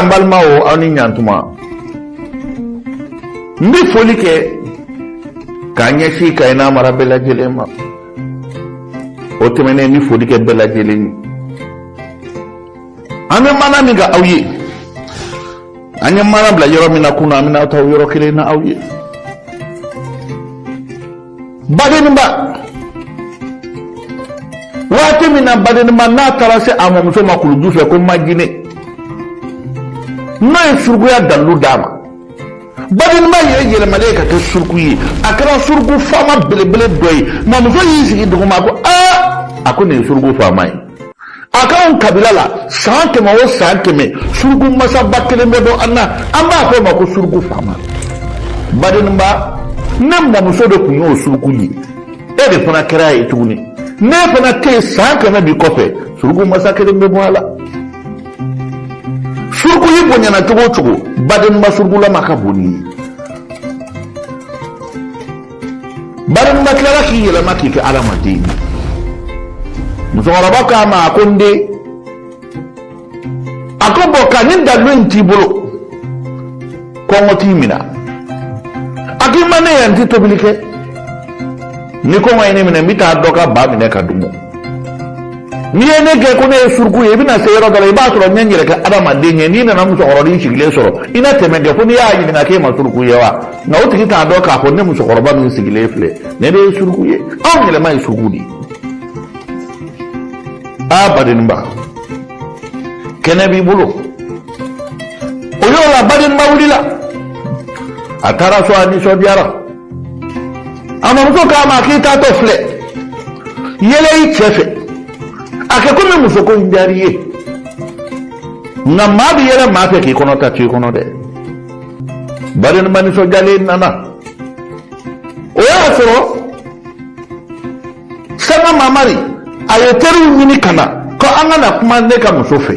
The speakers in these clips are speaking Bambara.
n balimaw aw ni ɲantuma n bɛ foli kɛ ka ɲɛsin ka ina mara bɛɛ lajɛlen ma o tɛmɛnen n bɛ foli kɛ bɛɛ lajɛlen ye an bɛ maana min ka aw ye an ye maana bila yɔrɔ min na kunun an bɛna taa o yɔrɔ kelen na aw ye badenba waati min na badenba n'a taara se a mɔmuso ma kuluju fɛ ko majine n'o ye surukuya dalilu d'a ma badenba yɛrɛ yɛlɛmalen ye ka kɛ suruku ye a kɛra suruku faama belebele dɔ ye mɔmuso y'i sigi duguma ko aa a ko nin ye suruku faama ye a k'anw kabila la san kɛmɛ o san kɛmɛ suruku masaba kelen bɛ bɔ an na an b'a fɔ o ma ko suruku faama badenba ne mɔmuso de tun y'o suruku ye e de fana kɛra ye tuguni n'e fana tɛ san kɛmɛ bi kɔfɛ suruku masa kelen bɛ bɔ a la suruku y'i bonyana cogo o cogo badenba surukulama ka bon ni ye badenba tilala k'i yɛlɛma k'i kɛ adamaden ye musokɔrɔba k'a ma a ko n den a ko bɔn ka nin dalu in t'i bolo kɔngɔ t'i minɛ a k'i ma ne yan n tɛ tobili kɛ ni kɔngɔ ye ne minɛ n bɛ taa dɔ ka ba minɛ ka dun n'i ye ne kɛ ko ne ye suruku ye i bɛna se yɔrɔ dɔ la i b'a sɔrɔ n ye n yɛrɛ kɛ adamaden ye n'i nana musokɔrɔba sigilen sɔrɔ i na tɛmɛ kɛ ko n'i y'a ɲininka k'e ma suruku ye wa nka o tigi t'a dɔn k'a fɔ ne musokɔrɔba min sigilen filɛ ne de ye suruku ye anw yɛlɛma ye suruku de ye aa badenba kɛnɛ b'i bolo o yɔrɔ la badenba wulila a taara so a nisɔndiyara a mɔmuso k'a ma k'i taatɔ filɛ yɛlɛ i cɛ fɛ a kɛ komi muso ko in diyar'i ye nka maa bɛ yɛlɛ maa fɛ k'i kɔnɔ ta to i kɔnɔ dɛ badenba nisɔndiyalen nana o y'a sɔrɔ sanga mamari a ye teriw ɲini ka na ko an ka na kuma ne ka muso fɛ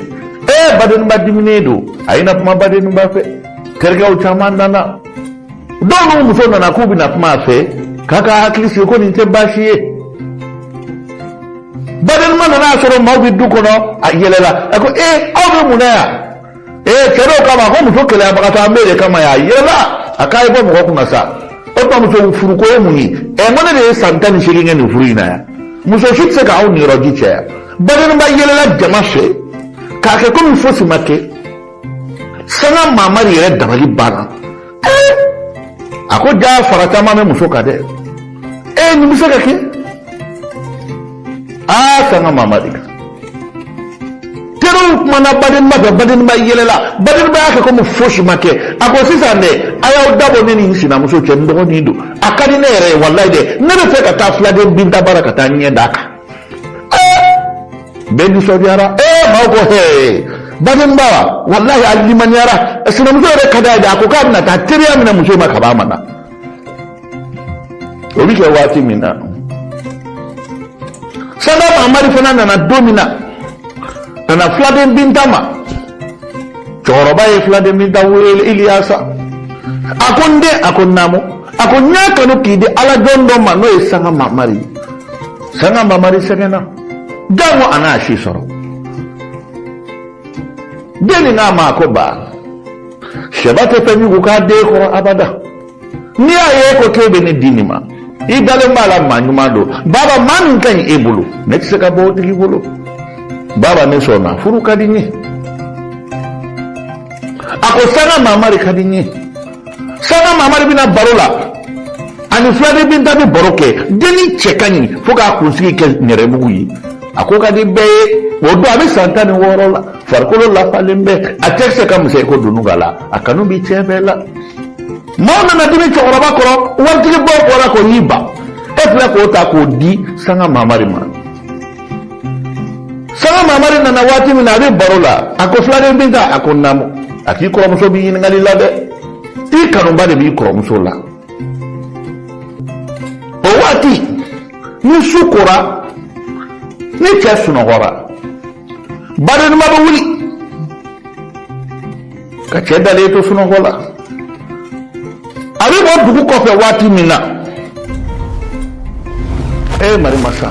ee badenba diminen don a ye na kuma badenba fɛ terikɛw caman nana dɔw n'u muso nana k'u bɛna kuma a fɛ k'a ka hakili sigi ko nin tɛ baasi ye badenba nana a sɔrɔ maaw bɛ du kɔnɔ a yɛlɛla a ko ee aw bɛ mun na yan ee cɛ dɔw k'a ma ko muso keleyabagatɔ an b'e de kama yan a yɛlɛla a k'a ye bɔ mɔgɔ kunna sa o tuma muso furuko ye mun ye ɛ n ko ne de ye san tan ni seegin kɛ nin furu in na yan muso si tɛ se k'aw niyɔrɔji caya badenba yɛlɛla jama fɛ k'a kɛ komi fosi ma kɛ sanga mamari yɛrɛ dabali banna a ko ja fara caman bɛ muso kan dɛ e nin bɛ se ka kɛ aa sanga mamari ka teriw kumana badenba fɛ badenba yɛlɛla badenba y'a kɛ komi fosi ma kɛ a ko sisan dɛ a y'aw dabɔ ne ni n sinamuso cɛ n dɔgɔnin don a ka di ne yɛrɛ ye walayi dɛ ne b'a fɛ ka taa filaden binta bara ka taa ɲɛ d'a kan bɛɛ nisɔndiyara ee maaw ko hee badenba wa walahi a limaniyara sinamuso yɛrɛ ka d'a ye a ko k'a bɛna taa teriya minɛ muso ma kab'a ma na o bɛ kɛ waati min na sanga mamari fana nana don min na a na filaden binta ma cɛkɔrɔba ye filaden binta wele iliyasa a ko n den a ko n naamu a ko n y'a kanu k'i di ala jɔn dɔ ma n'o ye sanga mamari ye sanga mamari sɛgɛnna jango a na si sɔrɔ den nin k'a ma ko ba sɛba tɛ fɛn jugu k'a den kɔrɔ abada n'i y'a ye ko k'e bɛ ne di nin ma i dalen b'a la maa ɲuman don baba maa min ka ɲi e bolo ne tɛ se ka bɔ o tigi bolo baba ne sɔnna furu ka di n ye a ko sanga mamari ka di n ye sanga mamari bɛ na baro la ani filaden binta bɛ baro kɛ denni cɛ ka ɲi fo k'a kunsigi kɛ nɛrɛmugu ye a ko ka di bɛɛ ye o don a bɛ san tan ni wɔɔrɔ la farikolo lafalen bɛ a cɛkisɛ ka misɛn i ko dununkala a kanu bɛ cɛ bɛɛ la maaw nana dimi cɛkɔrɔba kɔrɔ waritigibaw bɔra ko y'i ban e filɛ k'o ta k'o di sanga mamari ma sanga mamari nana waati min na a bɛ baro la a ko filaden binta a ko naamu a k'i kɔrɔmuso b'i ɲininkali la dɛ i kanuba de b'i kɔrɔmuso la o waati ni su kora ni cɛ sunɔgɔra badenima bɛ wuli ka cɛ dalen to sunɔgɔ la a bɛ bɔ dugu kɔfɛ waati min na e marimasa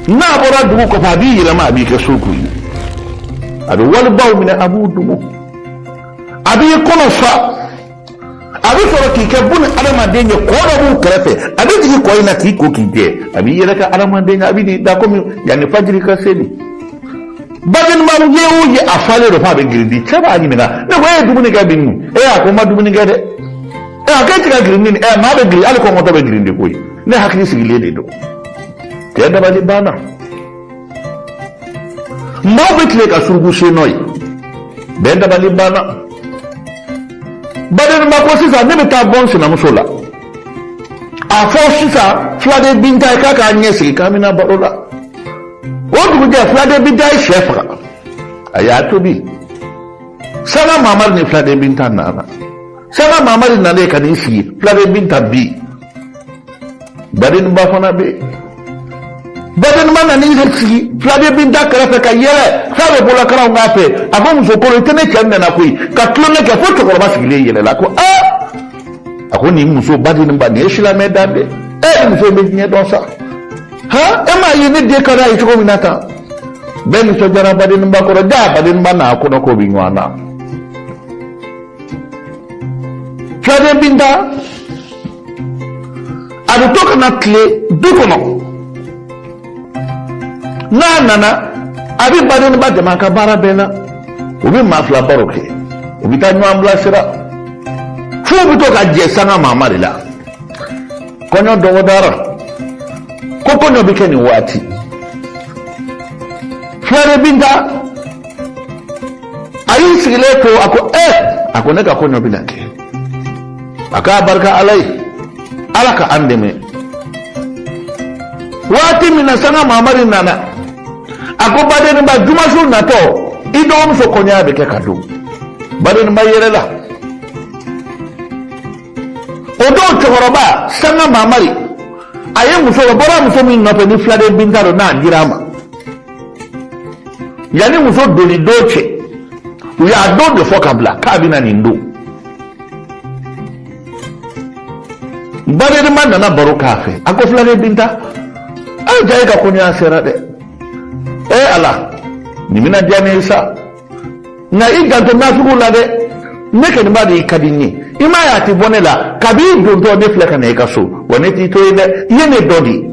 n'a bɔra dugu kɔfɛ a b'i yɛlɛma a b'i kɛ suruku ye a bɛ wali baw minɛ a b'u dumu a b'i kɔnɔ fa a bɛ sɔrɔ k'i kɛ bun adamaden ye kɔ dɔ b'u kɛrɛfɛ a bɛ jigin kɔ in na k'i ko k'i jɛ a b'i yɛrɛ kɛ adamaden ye a bɛ n'i da komi yanni fajiri ka seli badenba ye o ye a falen don f'a bɛ girindi cɛ b'a ɲininka ne ko e ye dumuni kɛ bi nin e a ko n ma dumuni kɛ dɛ ɛ a k'e ti ka girindi nin ɛ maa bɛ girindi hali kɔngɔtɔ bɛ girindi koyi ne hakili sigilen de don cɛ dabali banna Maaw bɛ tile ka suruku sen nɔ ye bɛɛ dabali banna badenba ko sisan ne bɛ taa bɔ n sinamuso la a fɔ sisan filaden binta ye k'a k'a ɲɛ sigi k'an bɛna baro la o dugujɛ filaden binta ye syɛ faga a y'a tobi sanga mamari ni filaden binta nana sanga mamari nalen ka n'i sigi filaden binta bɛ yen badenba fana bɛ yen badenba nana i sigi filaden binta kɛrɛfɛ ka yɛlɛ f'a bɛ bolakalanw k'a fɛ a ko muso kolon i tɛ ne cɛ nana koyi ka tulonkɛ kɛ fo cɛkɔrɔba sigilen yɛlɛla ko aa a ko nin muso badenba nin ye silamɛ dan dɛ e nin muso bɛ diɲɛ dɔn sa ha e m'a ye ne den ka d'a ye cogo min na tan bɛɛ nisɔndiyara badenba kɔrɔ jaa badenba n'a kɔnɔ ko bɛ ɲɔgɔn na filaden binta a bɛ to ka na tile du kɔnɔ n'a nana a bɛ badenba dɛmɛ a ka baara bɛɛ la u bɛ maa fila baro kɛ u bɛ taa ɲɔgɔn bilasira fo u bɛ to ka jɛ sanga mamari la kɔɲɔ dɔgɔdara ko kɔɲɔ bɛ kɛ nin waati filaden binta a y'i sigilen to a ko eh a ko ne ka kɔɲɔ bɛ na kɛ a k'abarika ala ye ala ka an dɛmɛ waati min na sanga mamari nana a ko badenba jumasu natɔ i dɔgɔmuso kɔɲɔya bɛ kɛ ka don badenba yɛrɛ la o don cɛkɔrɔba sanga mamari a ye muso o bɔra muso min nɔfɛ ni filaden binta don n'a dira a ma yanni muso donni don cɛ u y'a don de fɔ ka bila k'a bɛna nin don badenba nana baro k'a fɛ a ko filaden binta a jaa e ka kɔɲɔya sera dɛ e ala nin bɛna diya ne ye sa nka i janto nasugu la dɛ ne kɔni b'a dɔn i ka di n ye i m'a ye a tɛ bɔ ne la kabi i dontɔ ne filɛ ka na i ka so wa ne t'i to yen dɛ i ye ne dɔgɔ de ye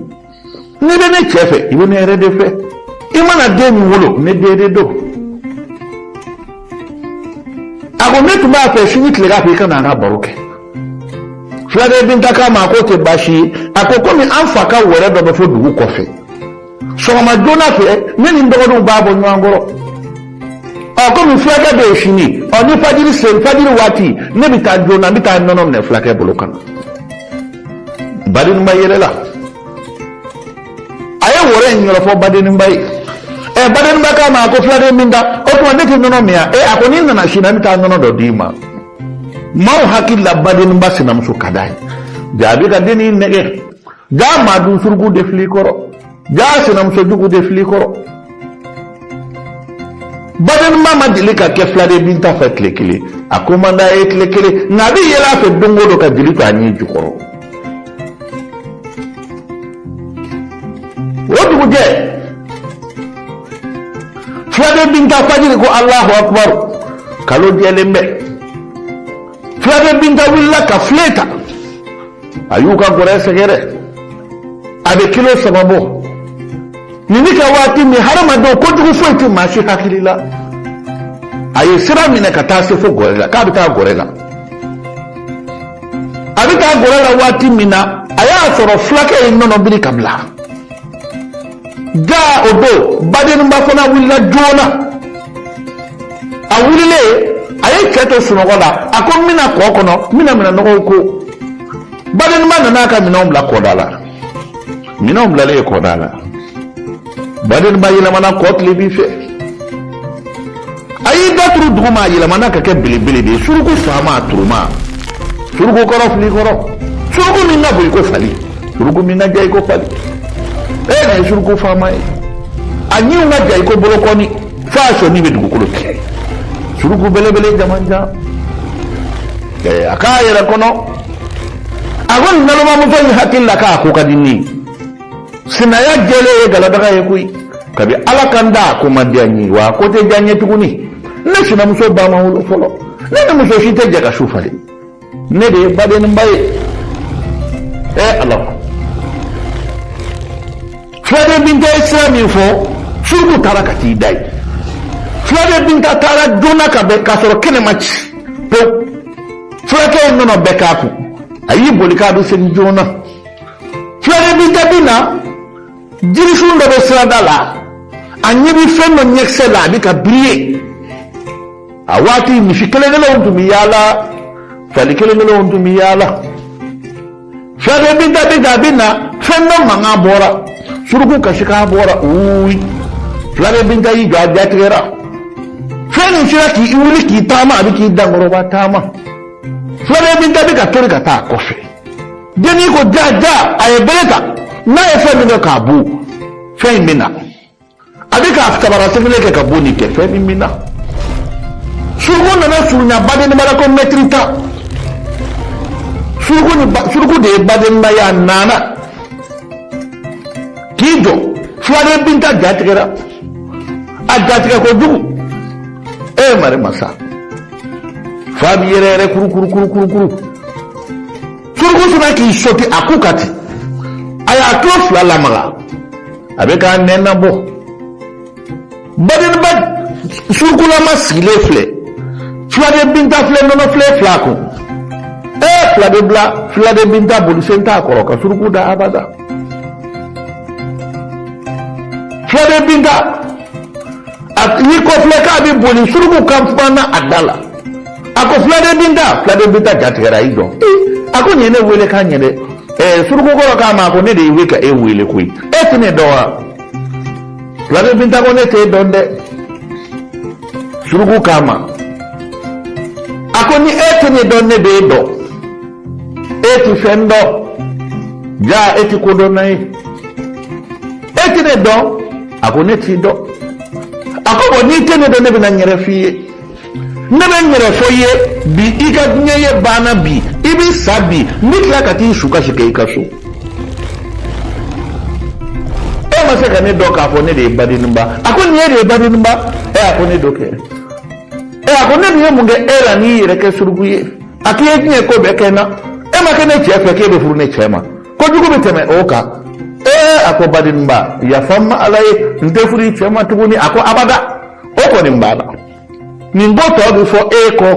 n'i bɛ ne cɛ fɛ i bɛ ne yɛrɛ de fɛ i mana den min wolo ne den de don a ko ne tun b'a fɛ sini tilegan fɛ i ka na an ka baro kɛ filaden binta k'a ma a k'o tɛ baasi ye a ko komi an fa ka wɛrɛ dɔ bɛ fo dugu kɔfɛ sɔgɔma joona fɛ ne ni n dɔgɔninw b'a bɔ ɲɔgɔn kɔrɔ ɔ komi fulakɛ bɛ yen sini ɔ ni fajiri sen fajiri waati ne bɛ taa joona n bɛ taa nɔnɔ minɛ fulakɛ bolo ka na. badenba yɛrɛ la a ye wɛrɛ in yɔrɔ fɔ badenba ye ɛ badenba k'a ma a ko filaden binta o tuma ne tɛ nɔnɔ min yan ɛ a ko n'i nana sini n bɛ taa nɔnɔ dɔ d'i ma maaw hakili la badenba sinamuso ka d'a ye jaa a bɛ ka den in nɛgɛn jaa maa dun suruku de filɛ i kɔrɔ jaa sinamuso jugu de filikɔrɔ badenba ma deli ka kɛ filaden binta fɛ tile kelen a ko man d'a ye tile kelen nka a bɛ yɛlɛ a fɛ don o don ka jeli to a ɲin jukɔrɔ o dugujɛ filaden binta fajiri ko alahu akubaru kalo jɛlen bɛ filaden binta wulila ka filen ta a y'u ka gɔrɛ sɛgɛrɛ a bɛ kilo saba bɔ nin bɛ kɛ waati min hadamadenw kojugu foyi tɛ maa si hakili la a ye sira minɛ ka taa se fo gɔrɛ la k'a bɛ taa gɔrɛ la a bɛ taa gɔrɛ la waati min na a y'a sɔrɔ fulakɛ ye nɔnɔ biri ka bila. ga o don badenba fana wulila joona a wulilen a ye cɛ to sunɔgɔ la a ko n bɛna kɔ kɔnɔ n bɛna minɛn nɔgɔw ko badenba nana ka minɛnw bila kɔda la minɛnw bilalen kɔda la badenba yɛlɛmana kɔ tilebin fɛ a y'i da turu duguma a yɛlɛmana ka kɛ belebele de ye suruku faama turuma suruku kɔrɔ filikɔrɔ suruku min ka bon i ko fali suruku min ka jan i ko fali e yɛrɛ ye suruku faama ye a ɲinw ka jan i ko bolokɔni fo a sɔnin bɛ dugukolo tigɛ suruku belebele jamanjan ɛɛ a k'a yɛrɛ kɔnɔ a ko nin nalomamuso in hakili la k'a ko ka di ne ye sinaya jɛlen ye galadaga ye koyi kabi ala ka n da ko ma diya n ye wa ko tɛ diya n ye tuguni ne sinamuso ba ma wolo fɔlɔ ne ni muso si tɛ jɛ ka su falen ne de ye badenba ye ɛ ala ko filaden binta ye sira min fɔ suruku taara ka t'i da yen filaden binta taara joona ka bɛn k'a sɔrɔ kɛnɛ ma ci pewu fulakɛ ye nɔnɔ bɛɛ k'a kun a y'i boli k'a don seli joona filaden binta bɛ na jirisun dɔ bɛ sirada la a ɲɛ bɛ fɛn dɔ ɲɛkisɛ la a bɛ ka biri ye a waati misi kelen-kelenw tun bɛ yaala fali kelen-kelenw tun bɛ yaala filaden binta bɛ na a bɛ na fɛn dɔ mankan bɔra suruku kasikan bɔra uuyi filaden binta y'i jɔ a jatigɛra fɛn nin sera k'i wuli k'i taama a bɛ k'i dankɔrɔba taama filaden binta bɛ ka tori ka taa a kɔfɛ. denni ko ja ja a ye bɛlɛ ta n'a ye fɛn min kɛ k'a bon fɛn in bɛ na a bɛ k'a sabara sen kelen kɛ ka bon nin kɛ fɛn min bɛ na suruku nana surunya badeniba la ko mɛtiri tan suruku ni ba suruku de ye badeniba ye a nana k'i jɔ filaden binta jatigɛra a jatigɛ kojugu e ye mari masa fa b'i yɛrɛ yɛrɛ kuru kuru kuru kuru kuru suruku sinna k'i sɔti a ku kan ten a y'a tulo fila lamaga a bɛ k'a nɛn nabɔ badinba surukulama sigilen filɛ filaden binta filɛ nɔnɔ filen fil'a kun ee filaden bila filaden binta bolisen t'a kɔrɔ ka suruku dan abada filaden binta y'i kɔ filɛ k'a bɛ boli suruku kan fana a da la a ko fuladen binta fuladen binta jatigɛra a y'i jɔ a ko nin ye ne wele ka ɲɛ dɛ ɛɛ suruku kɔrɔ k'a ma a ko ne de bɛ ka e wele koyi e tɛ ne dɔn wa fuladen binta ko ne t'e dɔn dɛ suruku k'a ma a ko ni e tɛ ne dɔn ne b'e dɔn e tɛ fɛn dɔn jaa e tɛ ko dɔnna ye e tɛ ne dɔn. a ko ne t'i dɔn a ko bɔn n'i tɛ ne dɔn ne bɛna n yɛrɛ f'i ye ne bɛ n yɛrɛ fɔ i ye bi i ka diɲɛ ye banna bi i bɛ sa bi n bɛ tila ka t'i su kasi kɛ i ka so e ma se ka ne dɔn k'a fɔ ne de ye badinba a ko ni e de ye badinba ɛ a ko ne don kɛ ɛ a ko ne dun ye mun kɛ e la n'i yɛrɛ kɛ suruku ye a k'i ye diɲɛ ko bɛɛ kɛ n na e ma kɛ ne cɛ fɛ k'e bɛ furu ne cɛ ma kojugu bɛ tɛmɛ o kan ee a ko badinba yafa n ma ala ye n tɛ furu i cɛ ma tuguni a ko abada o kɔni b'a la nin ko tɔ bɛ fɔ e kɔ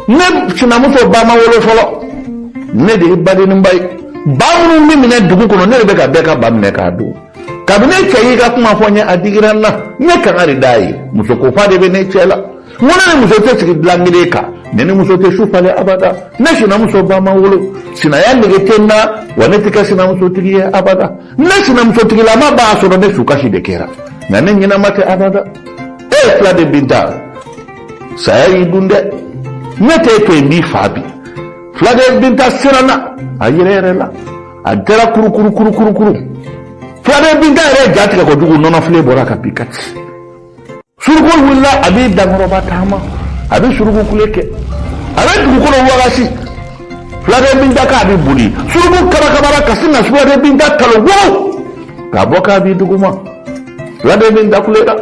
ne sinamuso ba ma wolo fɔlɔ ne de ye badinba ye ba minnu bɛ minɛ dugu kɔnɔ ne de bɛ ka bɛɛ ka ba minɛ k'a dun kabi ne cɛ y'i ka kuma fɔ n ye a digira n na n ye kangari d'a ye musokofa de bɛ ne cɛ la ne ni muso tɛ sigi bilan kelen kan ne ni muso tɛ su falen abada ne sinamuso ba ma wolo sinaya nege tɛ n na wa ne tɛ kɛ sinamusotigi ye abada ne sinamusotigilama b'a sɔrɔ ne su kasi de kɛra nka ne ɲɛnama tɛ abada ee filaden binta saya y'i dun dɛ ne tɛ e to n b'i fa bi fuladen binta siranna a yɛrɛyɛrɛla a kɛra kurukuru kurukuru kuru fuladen binta yɛrɛ jatigɛ kojugu nɔnɔfilen bɔra ka bin ka ci suruku wulila a b'i dankɔrɔba taama a bɛ suruku kule kɛ a bɛ dugukolo wagasi fuladen binta k'a bɛ boli suruku kabakabara ka sin na fuladen binta kalo wɔɔrɔ k'a bɔ k'a bin duguma fuladen binta kulela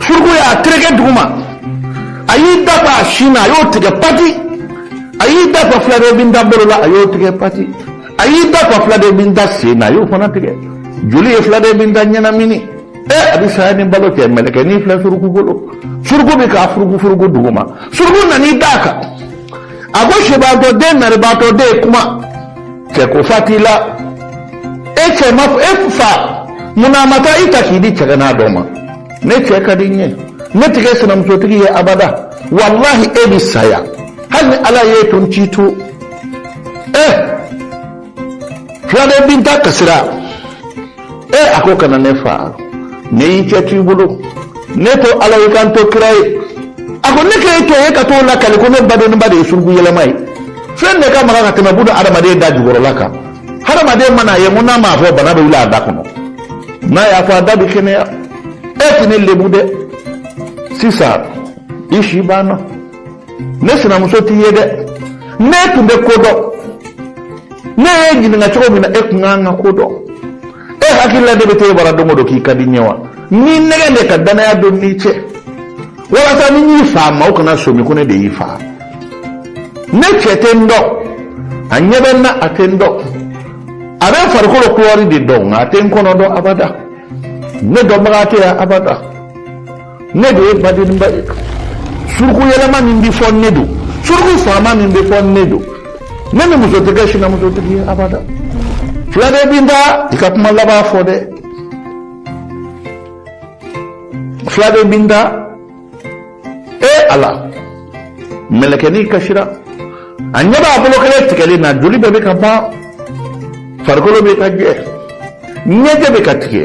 suruku y'a tereke duguma a y'i da fa a sin na a y'o tigɛ pati a y'i da fa fuladen binta bolo la a y'o tigɛ pati a y'i da fa fuladen binta sen na a y'o fana tigɛ joli ye fuladen binta ɲɛnamini a bɛ saya ni balo cɛ mɛlɛkɛnin filɛ suruku bolo suruku bɛ k'a furuku furuku duguma suruku nan'i d'a kan a ko sibaatɔ den naribaatɔ den kuma cɛ ko fa t'i la e cɛ ma e fa mun na a ma taa i ta k'i di cɛgana dɔ ma ne cɛ ka di n ye ne tɛ kɛ sinamusotigi ye abada walahi e bɛ sa yan hali ni ala y'e to n t'i to ɛ filaden binta kasira e a ko kana ne fa ne y'i cɛ t'i bolo ne to ala y'i ka n to kira ye a ko ne k'e to yen ka t'o lakali ko ne badenninba de ye suruku yɛlɛma ye fɛn de ka maga ka tɛmɛ buna adamaden da jukɔrɔla kan hadamaden mana a ye mun n'a m'a fɔ bana bɛ wuli a da kɔnɔ n'a y'a fɔ a da bɛ kɛnɛya e tɛ ne lebu dɛ sisan i si banna ne sinamuso t'i ye dɛ n'e tun bɛ ko dɔn ne y'e ɲininka cogo min na e tun kan ka ko dɔn e hakili la ne bɛ t'e bara don o don k'i ka di n ye wa n y'i nɛgɛn de ka dannaya don n'i cɛ walasa ni n y'i fa maaw kana sɔmi ko ne de y'i fa ne cɛ tɛ n dɔn a ɲɛ bɛ n na a tɛ n dɔn a bɛ farikolo kulɔri de dɔn nka a tɛ n kɔnɔ dɔn abada ne dɔnbaga tɛ yan abada ne de ye badenninba ye suruku yɛlɛma min bi fɔ ne don suruku faama min bi fɔ ne don ne ni muso tɛ kɛ sinamusotigi ye abada filaden binta i ka kuma laban fɔ dɛ filaden binta e ala mɛlɛkɛnin kasira a ɲɛ b'a bolo kelen tigɛlen na joli bɛɛ bɛ ka ban farikolo bɛ ka jɛ ɲɛjɛ bɛ ka tigɛ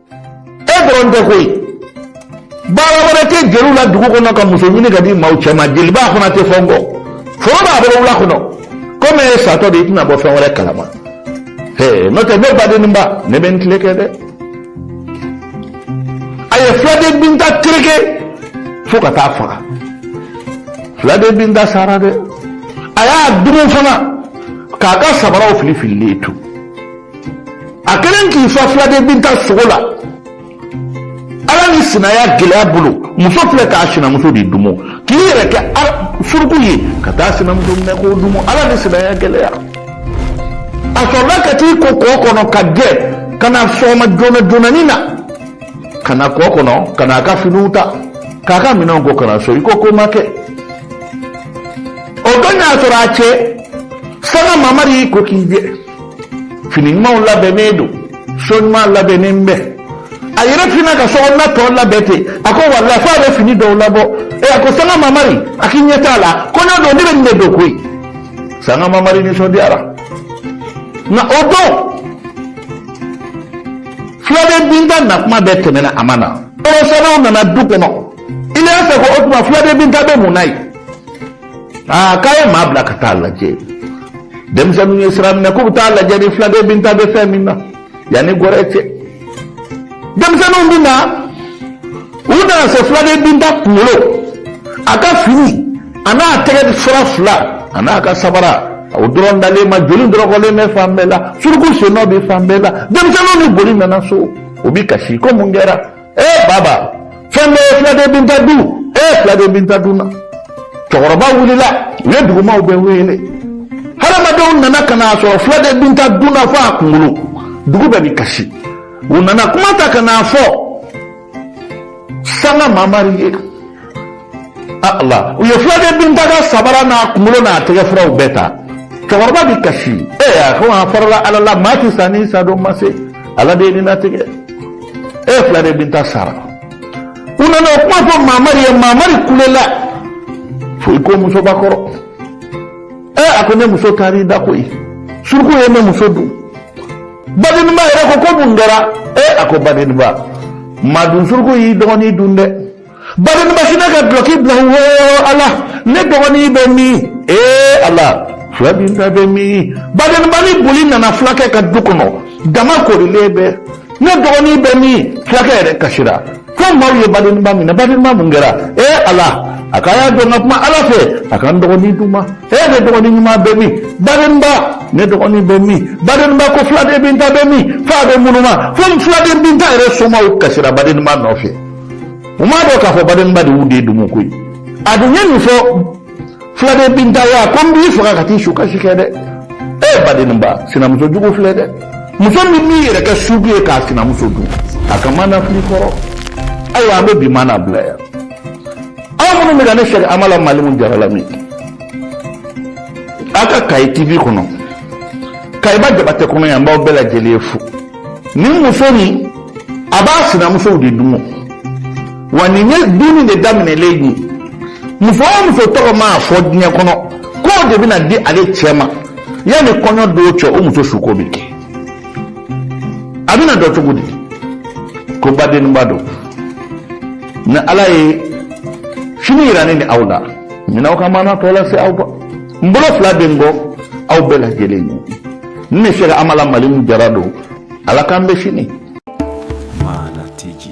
e dɔrɔn tɛ koyi baara wɛrɛ tɛ jeliw la dugu kɔnɔ ka muso ɲini ka di maaw cɛ ma jeliba fana tɛ fɔ n kɔ foro b'a bolo wula kɔnɔ komi e satɔ de i tɛna bɔ fɛn wɛrɛ kalama n'o tɛ ne badenninba ne bɛ n tile kɛ dɛ a ye filaden binta tereke fo ka t'a faga filaden binta sara dɛ a y'a dumu fana k'a ka sabaraw fili fililen to a kɛlen k'i fa filaden binta sogo la ala ni sinaya gɛlɛya bolo muso filɛ k'a sinamuso de dumu k'i yɛrɛ kɛ suruku ye ka taa sinamuso minɛ k'o dumu ala ni sinaya gɛlɛya a sɔrɔla ka t'i ko kɔ kɔnɔ ka jɛ ka na sɔgɔma joona joonani na ka na kɔ kɔnɔ ka na a ka finiw ta k'a ka minɛnw ko ka na so i ko ko ma kɛ o don y'a sɔrɔ a cɛ sanga mamari y'i ko k'i jɛ fini ɲumanw labɛnnen don so ɲuman labɛnnen bɛ a yɛrɛ fina ka sokɔnɔna tɔ labɛn ten a ko walayi f'a bɛ fini dɔw labɔ ɛ a ko sanga mamari a k'i ɲɛ t'a la kɔɲɔ don ne bɛ nin de don koyi sanga mamari nisɔndiyara nka o don filaden binta na kuma bɛɛ tɛmɛna a ma na nɔnɔsannaw nana du kɔnɔ iliyasa ko o tuma filaden binta bɛ mun na yen aa k'a ye maa bila ka taa lajɛ denmisɛnninw ye sira minɛ k'u bɛ taa lajɛ ni filaden binta bɛ fɛn min na yanni gɔrɛ cɛ denmisɛnninw bɛ na u nana se filaden binta kunkolo a ka fini a n'a tɛgɛ fura fila a n'a ka sabara o dɔrɔn dalen ma joli dɔrɔkɔlen bɛ fan bɛɛ la suruku sennɔ bɛ fan bɛɛ la denmisɛnninw ni boli nana so u bɛ kasi ko mun kɛra eh baba fɛn ye filaden binta dun eh filaden binta dunna cɛkɔrɔba wulila u ye dugumaw bɛɛ wele hadamadenw nana ka n'a sɔrɔ filaden binta dunna fo a kunkolo dugu bɛɛ ni kasi u nana kuma ta ka n'a fɔ sanga mamari ye u ye filaden binta ka sabara n'a kunkolo n'a tɛgɛ furaw bɛɛ ta cɛkɔrɔba bɛ kasi e a ko a farala ala la maa tɛ sa ni sa don ma se ala de ye nin latigɛ e filaden binta sara u nana o kuma fɔ mamari ye mamari kulela fo i ko musoba kɔrɔ e a ko ne muso taara i da koyi suruku ye ne muso dun badenba yɛrɛ ko ko mun kɛra e a ko badenba madun suruku y'i dɔgɔnin dun dɛ badenba sinna ka bloki blawo ala ne dɔgɔnin bɛ min ee ala filaden binta bɛ min badenba ni boli nana fulakɛ ka du kɔnɔ jama korilen bɛ ne dɔgɔnin bɛ min fulakɛ yɛrɛ kasira fo maaw ye badenba minɛ badenba mun kɛra ee ala a ka y'a dɔn ka kuma ala fɛ a ka n dɔgɔnin di n ma ee ne dɔgɔnin ɲuman bɛ min badenba ne dɔgɔnin bɛ min badenba ko filaden binta bɛ min f'a bɛ munuma fo filaden binta yɛrɛ somaw kasira badenba nɔfɛ u m'a dɔn k'a fɔ badenba de y'u den dumu koyi a dun ye nin fɔ filaden binta ye ko n b'i faga ka t'i su kasi kɛ dɛ e eh, badenba sinamuso jugu filɛ dɛ muso min b'i yɛrɛ kɛ sugu ye k'a sinamuso dun a ka maana filɛ kɔrɔ ayiwa an bɛ bi maana bila yan aw minnu bɛ ka ne sɛki amala malimu jara lamɛn aw ka kayi tv kɔnɔ kayiba jabatɛ kɔnɔ yan n b'aw bɛɛ lajɛlen fo ni muso nin a b'a sinamusow de dun wa nin ye dunni de daminɛlen ye muso o muso tɔgɔ mana fɔ diɲɛ kɔnɔ k'o de bɛna di ale cɛ ma yanni kɔɲɔ don cɛ o muso suko bɛ kɛ a bɛna dɔn cogo di ko badenba don ni ala ye sini yira ne ni aw la n bɛna aw ka maana tɔ lase aw ma n bolo fila bɛ n kɔ aw bɛɛ lajɛlen ye n bɛ fɛ ka amala mali min jara don ala k'an bɛn sini maana tigi